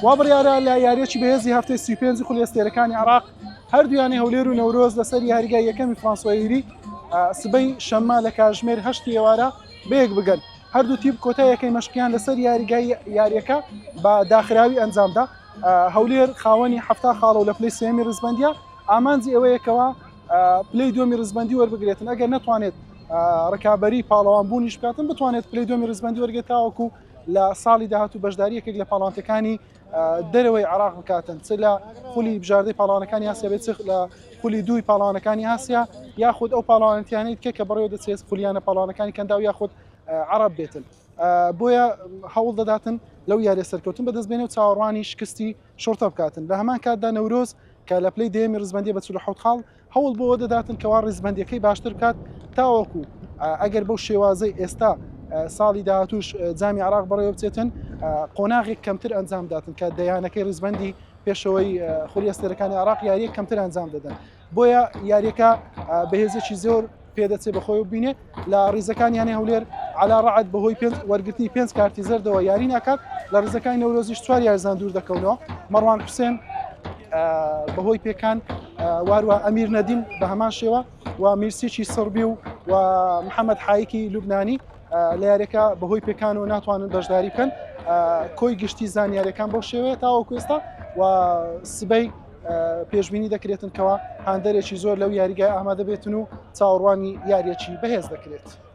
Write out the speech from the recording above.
وا بڕیارە لە یارییەکی بەهێزی هەفتەی سی و پێنجی خولی ئەستێرەکانی عێراق هەردوو یانەی هەولێر و نەورۆز لەسەر یاریگای یەکەمی فرانسوا یری سبەی شەممە لە کاژمێر هەشتی ئێوارە بەیەک بگەن هەردوو تیپ کۆتا یەکەی مەشقیان لەسەر یاریگای یاریەکە بە داخراوی ئەنجامدا هەولێر خاوەنی هەفتا خاڵە و لە پلی سێمی ڕزبندە ئامانجی ئەوەیەکەوە پلی دومی ڕزبندی وەربگرێتن ئەگەر نتوانێت ڕکابی پاڵەوان بوونیش بکاتن بتوانێت پلی دومی ڕزبندی وەرگێت تاوەکو لە ساڵی داهاتوو بەشداری یەکێک لە پاڵانتەکانی دەرەوەی عراق بکاتن چ لە خولی بژاردەی پاڵانەکانی ئاسیا بێت لە خولی دووی پاڵانەکانی ئاسیا یاخود ئەو پاڵانتیانیت کە کە بڕێوە دەچێت خولیانە پاڵانەکانی کەندا و یاخود عرب بێتن بۆیە هەوڵ دەداتن لەو یاریە سەرکەوتن بەدەست بێنێ و چاوەڕوانی شکستی شورتە بکاتن لە هەمان کاتدا نەورۆز کە لە پلی دێمی ڕزبندی بە چ حوت خاڵ هەوڵ بەوە دەداتن کەوا ڕیزبەندیەکەی باشتر بکات تاوەکو ئەگەر بەو شێوازەی ئێستا ساڵی داهاتوش جامی عراق بەڕێوە بچێتن قۆناغێک کەمتر ئەنجام داتن کە دەیانەکەی ڕزبندی پێشەوەی خولی ئەستێرەکانی عراق یاریە کەمتر ئەنجام دەدەن بۆیە یاریەکە بەهێزێکی زۆر پێدەچێت بەخۆی بینێ لە ڕیزەکان یانەی هەولێر علا ڕعد بەهۆی پێنج وەرگرتنی پێنج کارتی زەردەوە یاری ناکات لە ڕزەکانی نەورۆزیش چوار یارزان دوور دەکەونەوە مەڕوان حوسێن بەهۆی پێکان واروە ئەمیر نەدیم بە هەمان شێوە و میرسیی سڕبی و و محەممەد حایکی لوبنانی لە یارەکە بەهۆی پێکان و ناتوانن بەشداری بکەن کۆی گشتی زانیارەکان بۆ شێوەیە تاوەکوێستا و سبەی پێشبینی دەکرێتن کەوا هاندەرێکی زۆر لەو یاریگای ئامادە بێتن و چاوەڕوانی یاریەکی بەهێز دەکرێت.